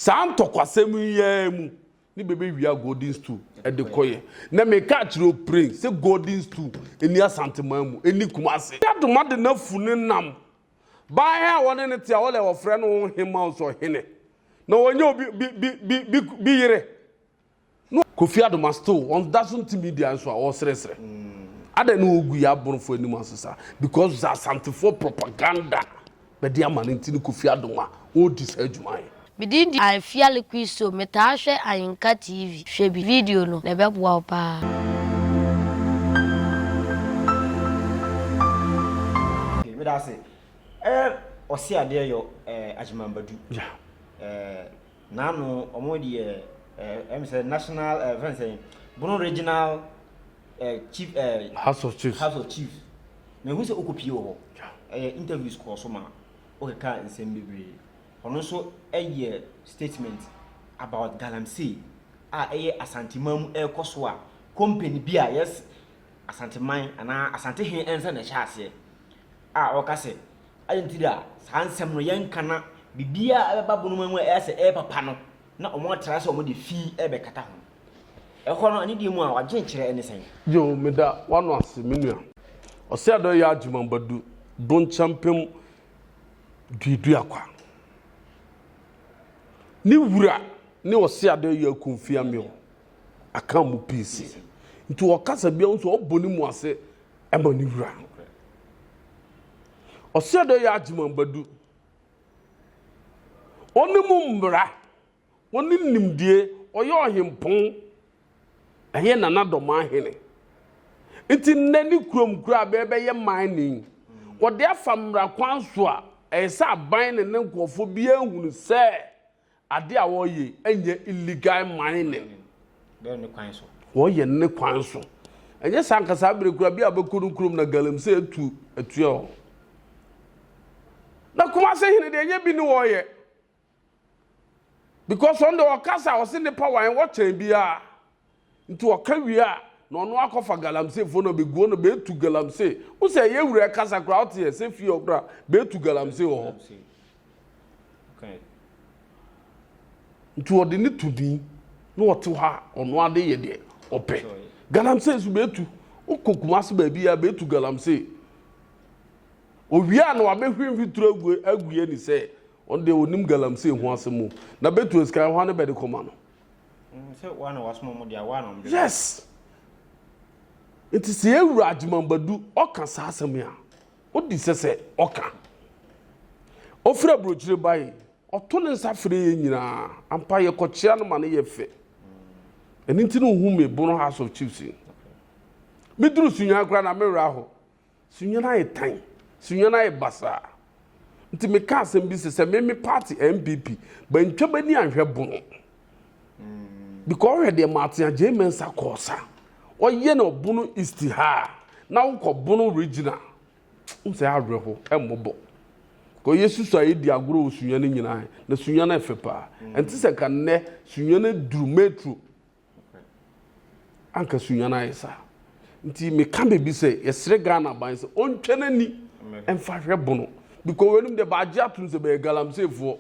Saa ntɔkwasɛm yi ara mu ne bɛbɛwia Golden Stool de kɔeɛ. Na meka akyerɛ wo pren sɛ Golden Stool nni Asanteman mu, ɛnni Kumase. Dadoma de n'afu no nam baa he a wɔne no te a wɔlɛ wɔfrɛ no wo hemma o sɛ ɔhene. Na ɔnyɛ obi bi bi bi bi bi yere. No Kofi Adoma still wɔn da so nti media nso a wɔresrɛsrɛ. Adɛn na wɔgu yɛ aborɔfo anim ase saa? Because sɛ Asantefoɔ propaganda bɛde ama no nti ne Kofi Adoma ɔredi saa adwuma yi. Me din de Afia Liquid Soap, me taa hwɛ Ayinka TV. Hwɛ bi video no na ɛbɛboa wo paa. Okay, meda ase. Eh, ɔse adeɛ yɔ eh, Agyemang Badu. Yeah. Eh, Naano ɔmo deɛ eh, ɛm sɛ national eh, fɛn sɛ Bono regional eh, chief eh, House of Chiefs. House of Chiefs. Mehu sɛ okɔ pie wɔ hɔ. Ɛyɛ interviews kɔɔ so ma okeka nsɛm bebree. Ɔno nso ɛyɛ statement about galamsey a ɛyɛ Asanteman mu ɛrekɔ so a company bi a yes Asanteman anaa Asantehe ɛnsa na ɛhyɛ aseɛ. a ɔka sɛ, Adɛn nti da a saa nsɛm no yɛnka na biribiara a ɛbɛba bonoma mu a ɛyɛ sɛ ɛyɛ papa no na wɔatra sɛ wɔde fi rebɛkata ho? Ɛhɔ no, anidie mu a w'adwenkyerɛ ne sɛn? Yoh, meda w'ano ase, me nua. Ɔseadɔe Yaa Gyimah Badu, Donkyɛmpem Duaduakwa. Ne wura ne Ɔseadɔe Yaa Kofi Ameo Akanmu PC. Nti ɔkasa biara wohu sɛ ɔbɔ ne mu ase ma ne wura. Ɔsɛ dɛ yɛ agyemambadu. Ɔno mu mbra, ɔno nimdie, ɔyɛ ɔhempɔn, ɛyɛ Nana Domaa hene. Nti nnɛ ne kurom koraa bɛ bɛyɛ mining. Wɔde afa mmara kwan so a, ɛyɛ sɛ aban ne ne nkurɔfoɔ biara hunu sɛ Ade a wɔyɛ ɛnyɛ illegal mining. Wɔyɛ ne kwan so. Wɔyɛ ne kwan so. Ɛnyɛ saa nkasa abere kura bi a bɛkɔ no kurom na galamsey atu atua wɔn. Na Kumase hene deɛ ɛnyɛ bi ne wɔyɛ. Because ɔno deɛ ɔkasa ɔse nipa wan wɔkyɛn biara. Nti ɔka wie a, na ɔno akɔfa galamsey fo na beguo no betu galamsey. Wo sɛ ɛyɛ wura ɛkasa koraa ɔte yɛ sɛ fie ɔkora betu galamsey wɔ hɔ. Nti ɔde ne tu din na ɔte hɔ a ɔno ade yɛ deɛ ɔpɛ. Galamsey nso betu. Wokɔ Kumasi baabi a betu galamsey. Owie a na wabɛhwie mfituro agu agu yɛ ni sɛ ɔno deɛ onim galamsey ho asɛm o. Na betu esika ɛhɔ a ne bɛde kɔma no. yes nti sɛ yɛ wura agyeman badu ɔka saa asɛm a odi sɛ sɛ ɔka ofiri aburokyire ba yi ɔto ne nsa fere yɛ nyinaa ampa yɛ kɔkyea no ma ne yɛ fɛ ɛni ti no hu mi bono house of chiefs yi mi duru sunya kura na mi wura hɔ Sunyani ayɛ tan, Sunyani ayɛ basaa. Nti me ka asɛm bi se sɛ me me party NPP bantwa bani anhwɛ bono. Because ɔhwɛ deɛ Martin Agyei Mensah kɔɔ sa. Ɔyɛ no ɔbono East ha a, na wokɔ bono regional. Wohu sɛ awerɛ ho, ɛmmɔ bɔ. Kɔ yɛ susu a yɛdi agorɔ wɔ Sunyani nyinaa, na Sunyani ɛfɛ paa. Ɛnte sɛ nka nnɛ Sunyani duru metro. Anka Sunyani ayɛ saa. Nti meka baabi sɛ yɛsrɛ Ghana ban sɛ ɔntwa n'ani mfa hwɛ bono because wɔanim deɛ baagye atom sɛ bɛyɛ galamseefoɔ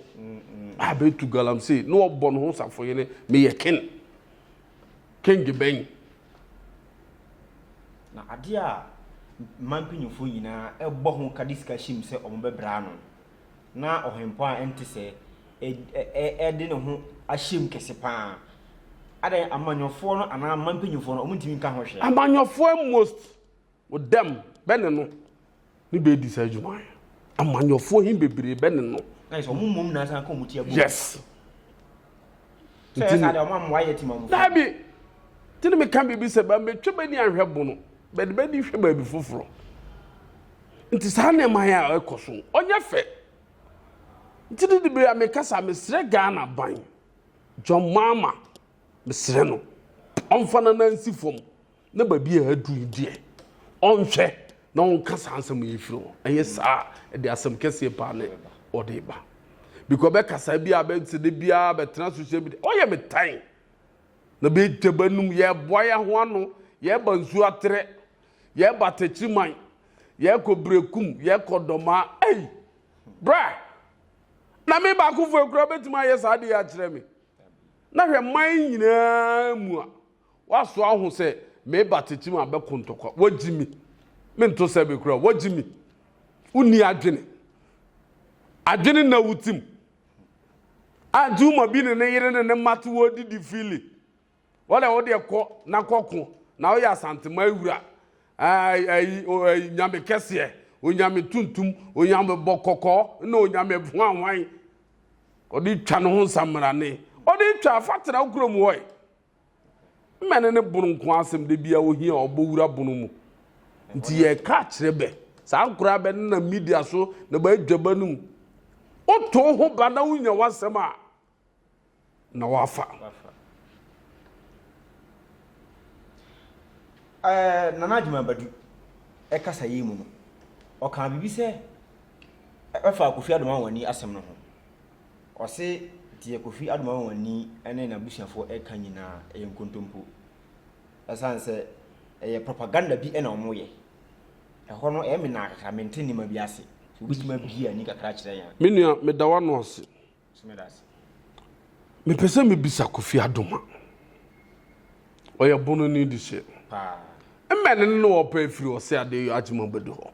a bɛtu galamsey na wɔbɔ no ho safohene meyɛ ken kenge bɛn na adeɛ a mmaa mpanyinfoɔ nyinaa ɛbɔ ho ka de sika hyɛ mu sɛ wɔn bɛbra ano na ɔhempɔn a ɛnte sɛɛ de ne ho ahyɛ mu kɛse paa. Adɛn, amanyɔfoɔ no anaa mma mpanyimfoɔ no, wɔntumi nka ho hwee. Amanyɔfoɔ a most wo dɛm bɛ ne no ne bɛ di saa adwuma yi. Amanyɔfoɔ he bebree bɛ ne no. Na yɛ sɛ wɔn mmom na asan ka wɔn ti abom. Yes. Sɛ yɛ saa deɛ wɔn ammoa yɛ temammufoɔ. Daabi. Nti ne meka biribi sɛ, bɛmmetwe bɛ ni anhwɛ bono. But bɛdi hwɛ baabi foforɔ. Nti saa nneɛma yɛ a ɛkɔ so. Ɔnyɛ fɛ. Nti de de bere a mekasa mesrɛ Ghana ban John Mahama mesrɛ no ɔmfa nana nsi fam na baabi a aduru yi deɛ ɔnhwɛ na ɔnka saa nsɛm yi firi hɔ. Ɛyɛ saa ɛde asɛm kɛseɛ paa ne ɔde ba. Because bɛkasa bi a bɛsɛ de biara bɛtena social media ɔyɛ me tan. Na bɛ tɛ bɛ num, yɛ boa yɛ ho ano, yɛ ba Nsuaterɛ, yɛ ba Takyiman, yɛ kɔ Berekum, yɛ kɔ Dɔmaa. Ei! Bra! Na me baakofoɔ kura bɛtumi ayɛ saa adeɛ akyerɛ me. Na hwɛ man nyinaa mu a, waso aho sɛ me ba Takyiman bɛko ntɔkwa. Wagyi me. Me nto sɛ bɛ kura, wagyi me. Wonni adwene. Adwene nna wo tim. A Tumor bi ne ne yere ne ne mma te hɔ didi Philly. Wo deɛ, wo deɛ kɔ na kɔko, na woyɛ Asanteman wura. Ɛɛ, ɛyi, ɛyi, nyame kɛseɛ, onyame tuntum, onyame bɔ kɔkɔɔ, na onyame hwanhwan. Ɔde twa ne ho nsamerane. Ɔde twa, fa tena wo kurom hɔ yi. Mmɛne ne bono nko asɛm da biara ohia a ɔbɔ wura bono mu. Nti yɛka kyerɛ bɛ. Saa nkoraa bɛ nenam media so na bɛ adwaba no mu. Woto wo ho ba na wonya w'asɛm a, na wafa. Eh, Nana Agyemang Badu kasa yi mu no, ɔkaa biribi sɛ ɛfa Kofi Ado Anwani asɛm no ho. Ɔse deɛ Kofi Adomawani ne n'abusuafoɔ reka nyinaa yɛ nkontompo. Ɛsiane sɛ ɛyɛ propaganda bi na wɔyɛ. Ɛhɔ no ɛyɛ me naa kakra, mente nneɛma bi ase. So wobɛtumi abue ani kakra akyerɛ yɛn? Me nua, meda w'ano ase. So meda ase. Mepɛ sɛ mebisa Kofi Adoma, ɔyɛ Bononi de hyɛ. Paa. Mmɛne no na ɔpɛ afiri Ɔse Adeyɔ Agyemang Badu hɔ.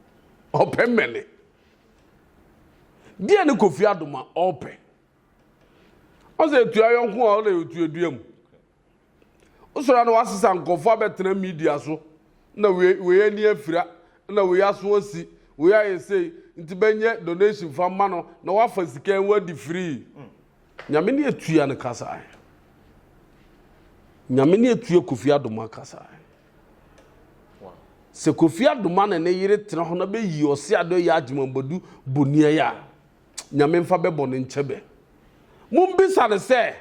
Ɔpɛ mmɛne. Deɛ ne Kofi Adom a ɔpɛ. Ɔsɛ etua yɔnko a ɔna etua dua mu. Wosɔre na wasesa nkurɔfoɔ abɛtena media so na wei wei ani afira na wei aso asi wei ayɛ sei nti bɛnyɛ donation fa ma no na wafa sika yi wadi free. Nyame ne atua no kasa. Nyame ne atua Kofi Adom akasa. Sɛ Kofi Adoma ne ne yere tena hɔ na bɛ yi Ɔse Ado Ɛyɛ Agyemang Boadu Boniai a, Nyame mfa bɛ bɔne nkyɛ bɛ. Mo mbisa no sɛ,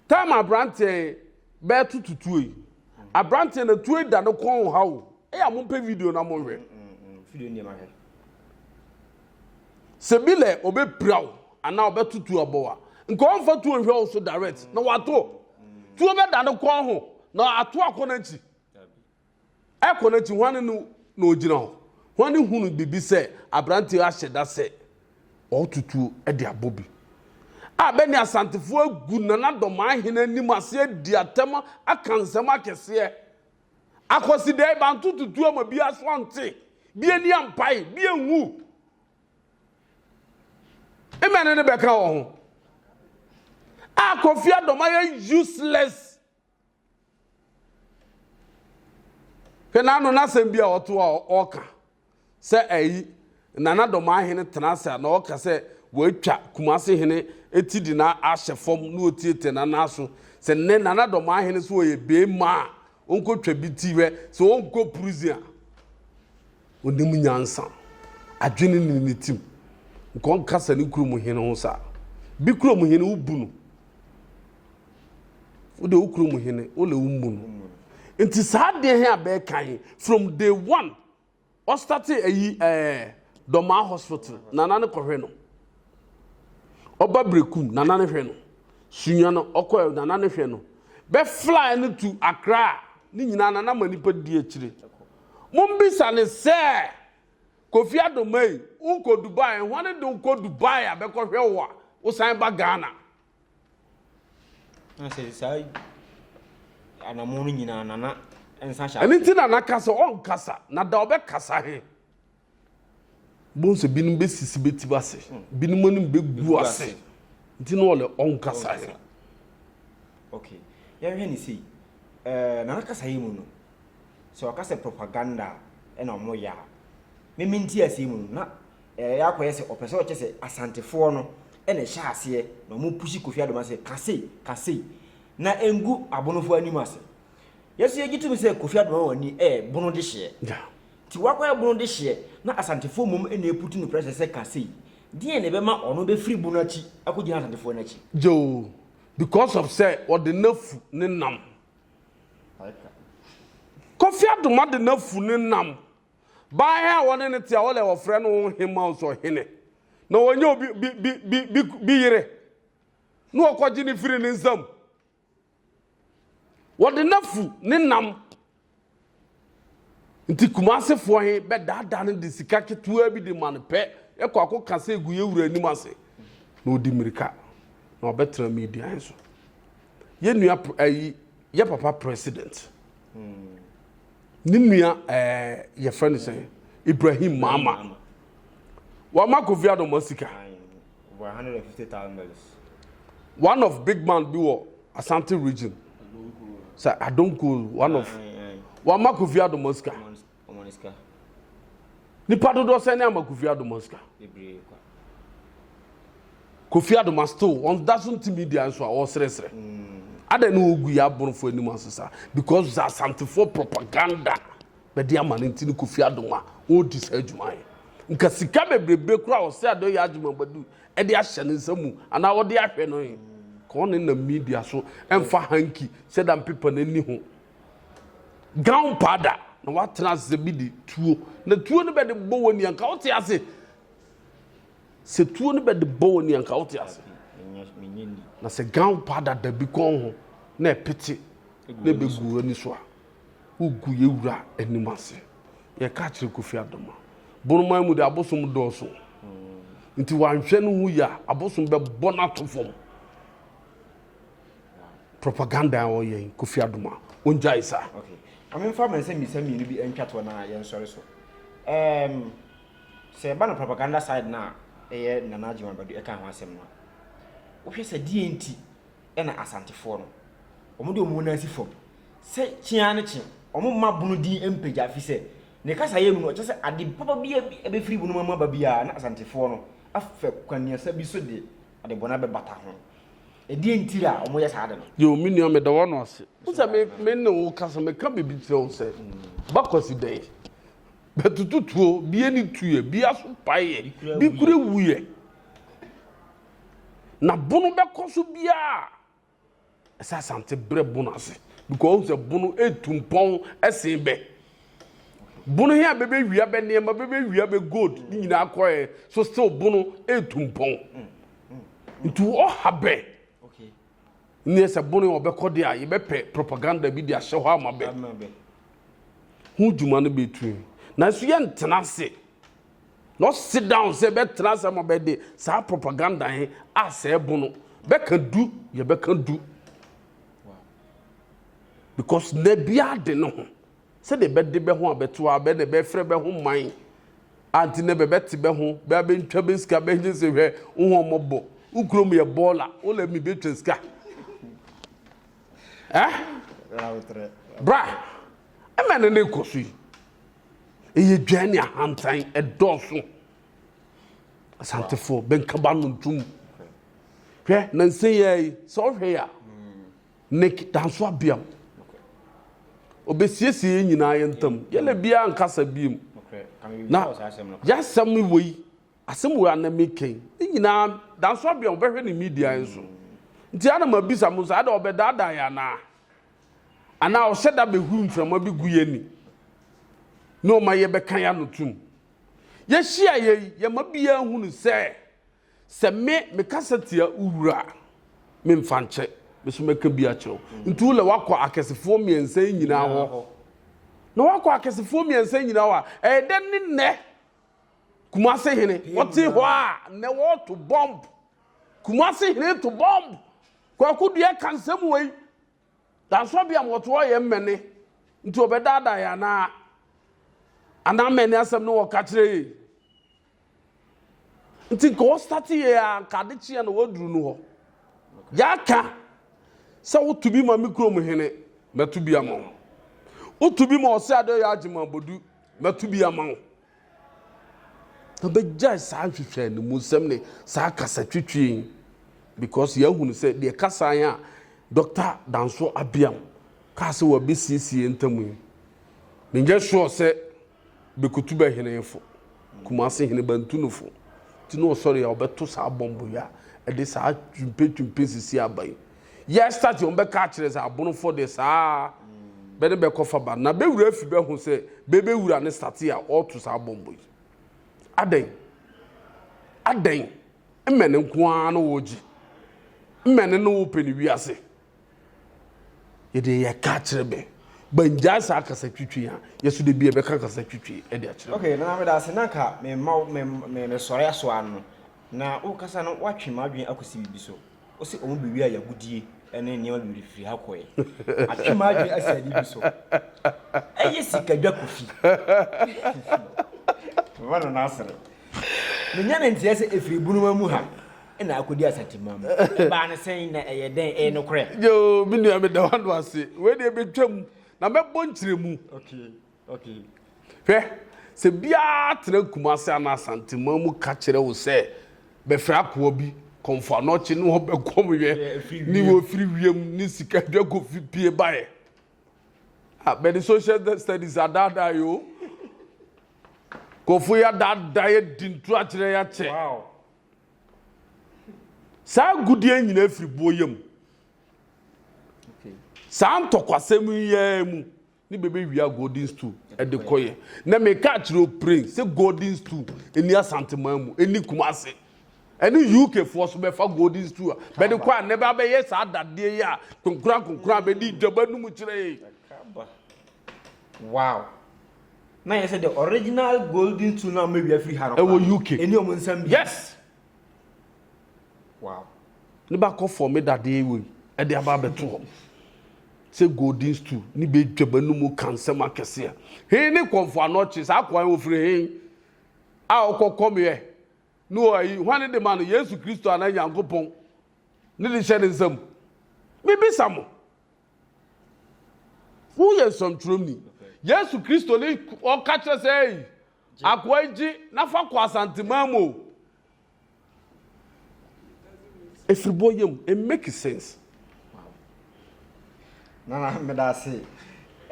time abranteɛ yi bɛ to to tuo yi, abranteɛ na tuo yi da ne kɔn ha o, ɛyɛ a mo mpɛ video na mo nhwɛ. sɛ bi lɛ ɔbɛpira wo anaa ɔbɛto tuo abɔ wo a nka ɔmfa tuo nhwɛ wo so direct na wato tuo bɛda ne kɔn ho na ato akɔ n'akyi ɛkɔ n'akyi hwane no na ɔgyina hɔ hwane hunu biribi sɛ aberanteɛ ahyɛ da sɛ ɔto tuo de abɔ bi a bɛne asantefoɔ agu nana dɔmaa hene anim aseɛ di atɛm aka nsɛm akɛseɛ Akwasidɛe, banto tutu ama bi aso ante, bi ani ampae, bi anwu. Mmɛ ne ne bɛka wɔ ho. A Kofi Adom ayɛ useless. Hwɛ n'ano n'asɛm bi a ɔto a ɔka. sɛ ayi na na Domaa hene tena ase a na ɔka sɛ wɔatwa Kumase hene ti de no ahyɛ fam na ɔtiatia no anan so. Sɛ nnɛ Nana Domaa hene sɛ ɔyɛ beema a ɔnkɔtwa bi ti hwɛ sɛ ɔnkɔ prison a, ɔnim nyansa, adwene nni ne tim, nka ɔnkasa ne kurom hene ho saa. Bi kurom hene wobu no, wode wo kurom hene wole wommu no. Nti saa adeɛ he a bɛɛka he, from day one, Ɔstate ayi ɛɛ Dɔmaa hospital nana no kɔhwɛ no ɔba brekum nana no hwɛ no sunya no ɔkɔ nana no hwɛ no bɛ fly no to akra ne nyinaa nana ma nipa di akyire mombisa ne sɛ kofi adomai wonkɔ dubai hwane de wokɔ dubai a bɛkɔhwɛ wo a wosan ba ghana Ɛno nti na naka sɛ ɔnkasa, na da ɔbɛkasa he, bohu sɛ binom bɛsisi bɛtim ase, binom anim bɛgu ase, nti na ɔlɛ ɔnkasa he. Okay, yɛnhwɛ ne sei, eh, na nakasa yi mu no, sɛ ɔka sɛ propaganda na ɔmo yɛ a, meme nti aseɛ mu no, na Ɛyɛ a kɔyɛ sɛ ɔpɛ sɛ ɔkyɛ sɛ Asantefoɔ no na ɛhyɛ aseɛ na ɔmo pushi Kofi Adoma sɛ ka sei, ka sei. Na ɛngu abonofoɔ anim ase. Yɛ nso yɛgye tom sɛ Kofi Adoma wɔ ni ɛyɛ bono dehyeɛ. Nti wakɔyɛ bono dehyeɛ na Asantefoɔ mmom na ɛputu no pressure sɛ ka sei. Deɛn na ɛbɛma ɔno bɛfiri bono akyi akɔgyina Asantefoɔ no akyi? Gyoo, because of sɛ ɔde n'afu ne nam. Kofi Adoma de n'afu ne nam Baeɛ a wɔne no te a wɔlɛ wɔfrɛ no wo hema o sɛ ɔhene na wɔnyɛ obi bi bi bi bi bi yere na wɔkɔgye ne firi ne nsam wɔde n'afu ne nam nti kumasefoɔ he bɛdaadaa no de sika ketewa bi de ma no pɛ ɛkɔ akɔ ka sɛ egu yɛ wura anim ase na ɔdi mmirika na ɔbɛtena media he so yɛ nua ayi yɛ papa president. Mm. ne nua ɛɛ eh, yɛfrɛ no sɛ ibrahim maama wama kofi adoma sika one of big man bi wɔ asante region sɛ adonko one of wama kofi adoma sika Nipa dodoɔ sɛn ne ama Kofi Adomon sika? Kofi Adoma still wɔn da so nti media nso a wɔresrɛsrɛ. Adɛn ne wɔgu yɛ aborɔfo anim ase saa? Because sɛ asantefoɔ propaganda bɛde ama no nti ne Kofi Adoma ɔredi saa adwuma yɛ. Nka sika bebrebe koraa ɔsɛ adɔ yɛ adwuma badu ɛde ahyɛ ne nsa mu anaa wɔde ahwɛ no he. Ka ɔne nam media so ɛmfa hanky sɛ da mpepa n'ani ho Gunpowder na watena ase bi de tuo. Na tuo no bɛde bɔ w'ani anka wote ase. Sɛ tuo no bɛde bɔ w'ani anka wote ase. Na sɛ gunpowder da bi kɔn ho na ɛpete na ɛbɛgu w'ani so a, wogu yɛ wura anim ase. Yɛka akyerɛ Kofi Adoma. Bonoman mu de abosom dɔɔso. Nti wanhwɛ ne ho yie a abosom bɛbɔ no ato fam. Propaganda a ɔyɛ yi Kofi Adom a ɔngyae saa. Okay. Ɔhene mfa ma nsɛm mmiɛnsa mmienu bi ntwa toɔ na yɛnsɔre so. Um, sɛ ɛba no propaganda side no a ɛyɛ Nana Adjuma Badu ɛka ho asɛm no a, wohwɛ sɛ deɛ nti ɛna Asantefoɔ no wɔn de wɔn nan si fam sɛ kyea ne kye wɔn mma bono din mpagya fi sɛ ne kasa yɛ mu no ɔkyɛ sɛ ade papa bi ɛbɛfiri bono mama ba biara na Asantefoɔ no afɛ kwaniasa bi so de ade bɔne abɛbata ho. Ɛdeɛn nti a wɔyɛ saa ade no? Yo, me nua, meda w'ano ase. Wo sɛ me, me ne wo kasa, meka biribi kyerɛ wo sɛ, ba Kwasi dɛn? Bɛtoto tuo, bi ani tuiɛ, bi aso paeɛ, bi kura wuiɛ. Na bono bɛkɔ so biara a, ɛsɛ Asante brɛ bono ase, because wohu sɛ bono ɛtu mpɔn sen bɛ. bono he a bɛbɛwia bɛ nneɛma bɛbɛwia bɛ gold ne nyinaa kɔɛ so still bono ɛtu mpɔn nti ɔha bɛ neɛ sɛ bono yɛ ɔbɛkɔ de a yɛbɛpɛ propaganda bi de ahyɛ hɔ ama bɛ ho dwuma no bɛtu nanso yɛntena ase na ɔsi down sɛ bɛtena ase ama bɛde saa propaganda he asɛɛ bono bɛka du yɛbɛka du Because na bi ade ne ho. Sɛ de bɛ de bɛ ho a bɛ to a bɛ na bɛ frɛ bɛ ho man. Anti na bɛ bɛ te bɛ ho bɛ a bɛ ntwa bɛ sika bɛ nye se hwɛ wo ho ɔmɔ bɔ. Wo kuro mu yɛ bɔɔla wo lɛ mi bɛ twa sika. Eh? Bra. Ɛmɛ ne ne kɔ so yi. Eye dwan ne ahantan ɛdɔɔso. Asantefo bɛ nkaba no ntum. Hwɛ nansi yɛ yi sɛ ɔhwɛ ya. Nick Danso Abiam. Obesiesie yɛn nyinaa yɛn ntam. Yɛlɛ biara nkasa biem. Na yɛasɛm wɔ yi, asɛm wɔ anam mi kɛn. Ne nyinaa Danso Abiam ɔbɛhwɛ ne media yɛn so. Nti ana ma bisa mo sɛ ada ɔbɛdaadaa yɛn anaa? Anaa ɔhyɛ da behu mframa bi gu yɛn ni na ɔma yɛbɛka yɛn ano tum? Yɛhyia yɛ yi, yɛma biara hu no sɛ Sɛ me mekasa tia wo wura a, memfa nkyɛ, me nso mɛka bi akyerɛ wo. Nti wo na woakɔ akɛsefoɔ mmiɛnsa yi nyinaa hɔ. Na woakɔ akɛsefoɔ mmiɛnsa yi nyinaa hɔ a, ɛyɛ dɛn ne nnɛ Kumase hene? Ɔte hɔ a, nnɛ wɔreto bɔmb. Kumase hene to bɔmb. Kwaku Duɛ ka nsɛm wei. Yɛansɔ bi a wɔtoɔ yɛn mmɛne nti wɔbɛdaadaa yɛn anaa? Anaa mmɛne asɛm ne wɔka kyerɛ yɛn nti nka wɔstate yɛn a nka ade kyeɛ na wɔaduru no hɔ. Yɛaka sɛ woto bi ma me kurom hene mɛto bi ama wo. Woto bi ma ɔsɛ adeɛ ɔyɛ agyema bodu mɛto bi ama wo. Yɛbɛgyae saa nhwehwɛanimusɛm ne saa kasatwitwi yi because yɛahunu sɛ deɛ kasae a Dɔkta Danso Abiam kaa sɛ wɔbɛsiesie yɛn ntam yi, menyɛ sure sɛ Bekotu bɛhenefo, Kumasi hene Bantunufo, nti na ɔsɔre a ɔbɛto saa bɔmbo yi a ɛde saa twumpetwumpe sisi aba yi. yɛ start wɔn bɛka akyerɛ sɛ abonofo de saa bɛ ne bɛkɔ fa ba na bɛwura fi bɛho sɛ bɛbɛwura ne start a ɔreto saa bɔmbɔ yi adɛn adɛn mmɛne nko ara na wɔregye mmɛne no wopɛ ne wiase yɛde yɛ ka akyerɛ bɛ bangyaa saa kasa twitwi a yɛso de bi ɛbɛka kasa twitwi ɛde akyerɛ okay na meda ase na nka memma mesɔre aso ano na wokasa no woatwe m'adwene akɔsi biribi so Ose ɔmo bewiaa yagodie ne nneɛma bebree firi ha kɔɛ. Atwe m'adwene asi adeɛ bi so. Ɛyɛ sikadwa Kofi. Mema no n'asere. Menya ne nteɛ sɛ ɛfiri Ebunoma mu ha na akɔdi Asanteman mu. Ɛbaa no sɛn na ɛyɛ dɛn? Ɛyɛ nokorɛ? Yoo, me nua meda w'ano ase. Wei deɛ mɛtwam na mɛbɔ nkyerɛmu. Okay. Okay. Hwɛ, sɛ biara tena Kumase anaa Asanteman mu ka kyerɛ wo sɛ bɛfrɛ akoa bi kɔ Mfoanɔkye ne ɔbɛkɔm yɛ ne wɔfiri wiem ne sika adwa kɔ fi pie baeɛ. Ah, bɛde social studies adaadaa yɛ o. Kɔfo yɛ adaadaa yɛ di ntura kyerɛ yɛ akyɛ. Wow. Saa gudeɛ nyina afiri boɔ yam. Okay. Saa ntɔkwasɛm yɛ mu. ne bɛbɛwia golden stool de kɔyɛ na meka kyerɛ opren sɛ golden stool ɛni asanteman mu ɛni kuma ase ɛne uk foɔ so bɛfa golden stool a bɛde kɔ a na ɛbɛ abɛyɛ saa dadeɛ yi a konkora konkora a bɛde dwaba no mu kyerɛ yi wow na yɛ sɛ the original golden stool na mɛwia firi ha no ɛwɔ uk ɛni ɔmo nsɛm bi yes wow ne ba kɔ fɔm dadeɛ wei ɛde aba abɛto hɔ sɛ golden stool ne bɛ dwama no mu ka nsɛm akɛseɛ hei ne kɔmfo anɔkye saa kwan wɔfiri hei a ɔkɔ kɔmeɛ ne ɔyi hwane de ma no yesu kristo anaa nyankopɔn ne de hyɛ ne nsam mebisa mo Woyɛ nsɛmtwerɛni. Yesu Kristo ne ɔka kyerɛ sɛ ei, akoa yi gye na fa kɔ Asanteman mu o. Ɛfiribɔ yam, it make sense. Nana meda ase.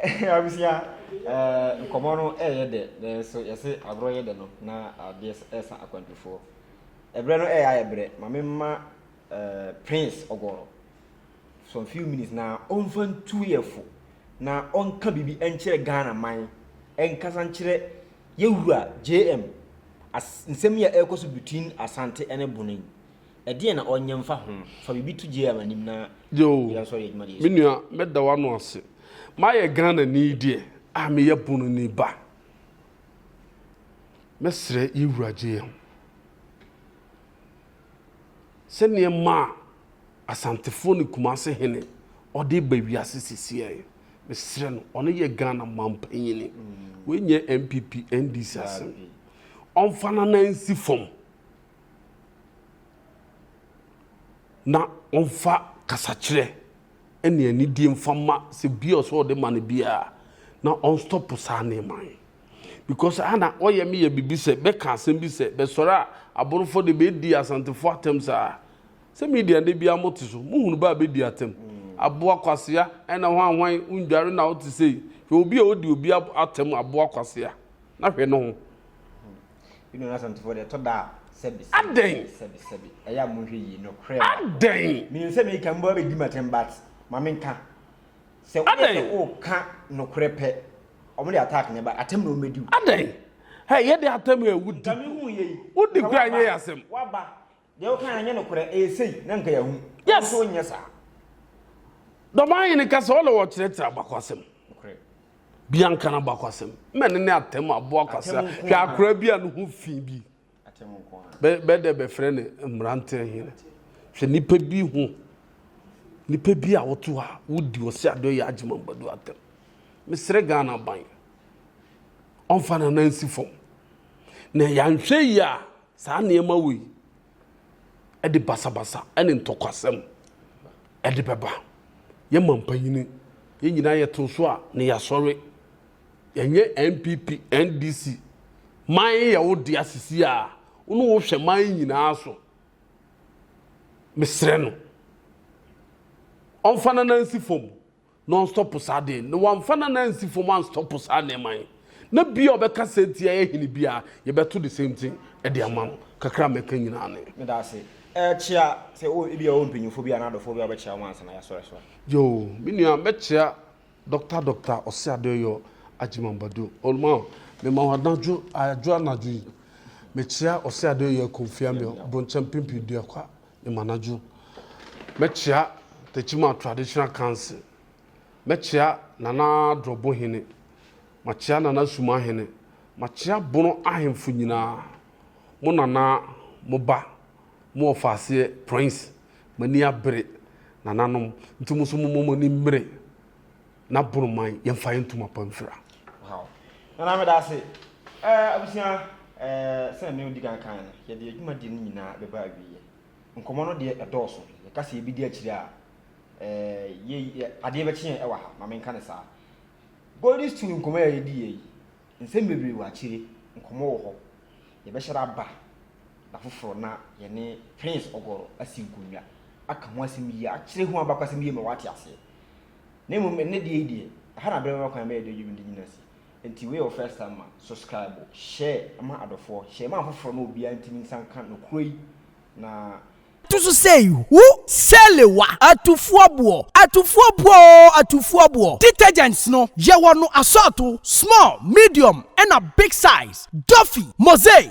Abusua nkɔmɔ no ɛyɛ dɛ nanso yɛse agorɔ yɛ dɛ no na adeɛ ɛsa akwantufoɔ. Ɛbrɛ no ɛyɛ ayɛ brɛ ma memma Prince Ɔgɔrɔ for a few minutes na ɔmfa ntu yɛ fo na ɔnka biribi nkyerɛ Ghana man nkasa nkyerɛ yɛ wura JM as nsɛm yi a ɛrekɔ so between Asante ɛne Bono yi ɛdeɛn na ɔnyɛ mfa ho fa biribi to JM anim na Yoo, yɛn nso yɛ adwuma deɛ me nua mɛda w'ano ase. Mayɛ Ghana ni deɛ a meyɛ Bono ni ba. Mɛsrɛ yɛ wura JM sɛ nneɛma a. Asantefo ne Kumase hene ɔde reba wiase sisiɛe. Mesrɛ no, ɔno yɛ Ghana manpanyini. Wei nyɛ NPP, NDC asɛm. Ɔmfa n'anan nsi fam na ɔmfa kasakyerɛ ne anidie mfa mma sɛ bia ɔsɛ ɔde ma no biara na ɔnstɔpo saa nneɛma yi. Because ana ɔyɛ me yɛ biribi sɛ bɛka asɛm bi sɛ bɛsɔre a aborofo de bɛdi asantefo atɛm saa. Sɛ media ndɛ bia mo te so mo hunu bɛ a bɛ di atam aboa kwasea ɛna hwan hwan wo ndware na wo te sei hwɛ obi a odi obi atam aboa kwasea na hwɛ ne ho. Bi no n'asɛmtofoɔ deɛ ɛtɔ da a sɛbi sɛbi Adɛn? sɛbi sɛbi sɛbi ɛyɛ a monhwɛ yie nokorɛ ma Adɛn? menim sɛ meka mbɔ abɛdi m'atɛm but ma menka sɛ woyɛ Adɛn? sɛ woka nokorɛ pɛ ɔmo de attack na ɛba atɛm na ɔmo bɛdi wo Adɛn? Hɛ yɛ de atam ɛ wo nka di mehu yɛ yi wodi nka kura nyɛ yɛ asɛm. waba Deɛ woka no nyɛ nokorɛ, ɛyɛ sei, na nka yɛahu. Wo nso wonyɛ saa. Dɔbaa hene ka sɛ ɔna wɔkyerɛkyerɛ abakwasɛm. Bianca no abakwasɛm. Mɛne ne atɛm aboa kwasra. Hwɛ akora bi a ne ho fi bi. Bɛdɛ bɛfrɛ ne mmerante hene. Hwɛ nipa bi ho. Nipa bi a woto hɔ a wodi ɔsɛ adeɛ yɛ agyema mbadu atɛm. Mesrɛ Ghana ban. Ɔmfa nana nsi fam. Na yɛanhwɛ yi a Saa nneɛma wei de basabasa ne ntɔkwasɛm de bɛba. Yɛ mampanin, yɛn nyinaa yɛto so a na yɛasɔre. Yɛnyɛ NPP, NDC. Man yɛ wo dea sisi a wo ne wo hwɛ man nyinaa so. Mesrɛ no, ɔmfa n'anan nsi fam. na ɔnstɔpo saa ade na wamfa n'anan ansi fam anstɔpo saa nneɛma yi na bia ɔbɛka sɛ nti ɛyɛ hene bia yɛbɛto the same thing ɛde ama no kakra mɛka nyinaa ne. Meda ase. Ɛɛ kyea sɛ wo ebi a ɔwɔ mpanyinfoɔ bi anaa adɔfoɔ bi a ɔbɛkyea wɔn ansa na yɛasɔre so a. Yoo me nua mɛkyea Doctor Doctor Ɔseadeoyɔ Agyeman Badu ɔma mema wo anadwo adwo anadwo yi mekyea Ɔseadeoyɔ Kofi Amio Bronkyɛn Pimpin Duakwa Mmanadwo, mɛkyea Techiman Traditional Council, mɛkyea Nana Adrɔbohene, makyea Nana Sumahene, makyea Bono ahemfo nyinaa, mo Nana, mo ba, mo Ɔfaaseɛ Prince, m'ani abere, Nananom, nti mo nso momma mo ani mmere. na boro man yɛn fa yɛn ntoma pa mfira. Wow. Nana meda ase. Eh, abusua, eh, sɛ me odi kan kan no, yɛde adwuma di no nyinaa bɛba awieɛ. Nkɔmmɔ no deɛ ɛdɔɔso. Yɛka sɛ yɛbɛdi akyire a, eh, yɛ, yɛ, adeɛ bɛkye yɛn ɛwɔ ha, ma menka ne saa. Golden Stool nkɔmmɔ a yɛdi yɛ yi, nsɛm bebree wɔ akyire, nkɔmmɔ wɔ hɔ. Yɛbɛhyɛ da aba da foforɔ na yɛne Prince Ɔgɔrɔ asi nkonnwa, aka ho asɛm yie, akyerɛ ho abakɔsɛm yie ma wate aseɛ. na mmom ɛnɛ deɛ yi deɛ ɛha na abɛrɛ bɛma kwan bɛyɛ dɛ dwumadi nyina si nti wei yɛ wo first time ma subscribe share ma adɔfoɔ share ma afoforɔ na obiara ntumi nsa nka nokorɛ yi na To so sei, hu Salewa atufoɔboɔ Atufoɔboɔ oo atufoɔboɔ Detergents no yɛwɔ no asɔɔto, small, medium ɛna big size Duffy, Mosaic,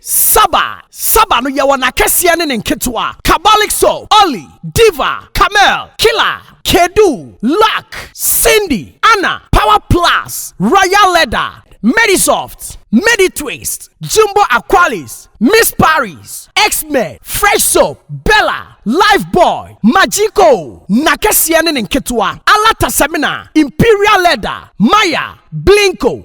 Saba, Saba no yɛwɔ n'akɛseɛ ne ne nketewa, Kabalixo, Olly, Diva, Camel, Killa, Kedu, Luck, Cindy, Anna, Power Plus, Royal Leather, Medisoft, Meditwist, Jumbo Aqualis, Miss Paris, X-Men, Fresh Soap, Bella, Life Boy, Magico, n'akɛseɛ ne ne nketewa, Alata Semina, Imperial Leather, Maya, Blinko,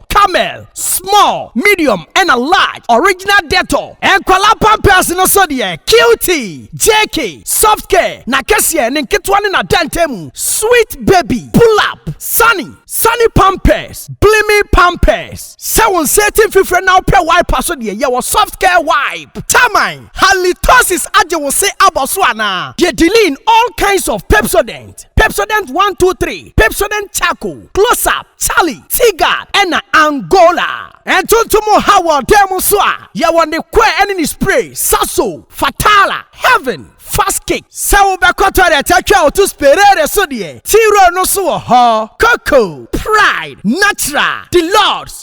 Camel, small, medium ɛna large, original Dettol. Nkwadaa pampers no so deɛ, Cutie, JK, Soft Care, n'akɛseɛ, ne nketewa ne n'adantamu, Sweet Baby, Pull Up, Sunny, Sunny Pampers, Blimi Pampers. Sɛ wo nsa ati mfifire na wopɛ wiper so deɛ, yɛwɔ Soft Care Wipe. Taman, Halitosis agye wo se abɔ so anaa? Deɛ Diline, all kinds of Pepsodent. Pepsodent one two three, Pepsodent Charcoal, Close Up, Charlie, T-Guard, ɛna Angola. Ntontom ha wɔ dan mu nso a, yɛwɔ ne kɔɛ ɛne ne spray, Sasso, Fatala, Heaven, Fast Kick. Sɛ wobɛkɔ toilet atwa wo to Sperare so deɛ, T-Roll no nso wɔ hɔ. Coco, Pride, Natural, Deluxe,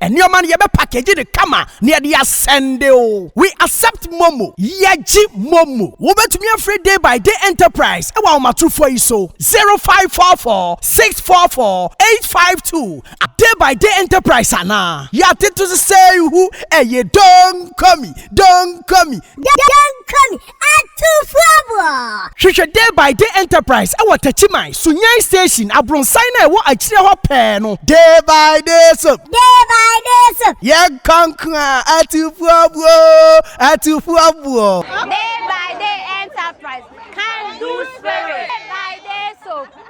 Nneɛma no yɛbɛ package no kama na yɛde asɛnde o. We accept momo. Yɛgye momo. Wobɛtumi afrɛ Day by Day Enterprise ɛwɔ ahomatorofoɔ yi so, 0544 644 852 a Day by Day Enterprise anaa. Yɛatete so sɛ ihu ɛye Donkomi, Donkomi. Donkomi, Atufoɔ! Hwehwɛ Day by Day Enterprise wɔ Takyiman, Sunyani Station, abronsan no a ɛwɔ akyire hɔ pɛɛ no. Day by Day Soap. Day by Day Soap. Yɛnkɔ nko a, Atufoɔbuo! Atufoɔbuo! Day by Day Enterprise, Can Do Spirit. Day by Day Soap.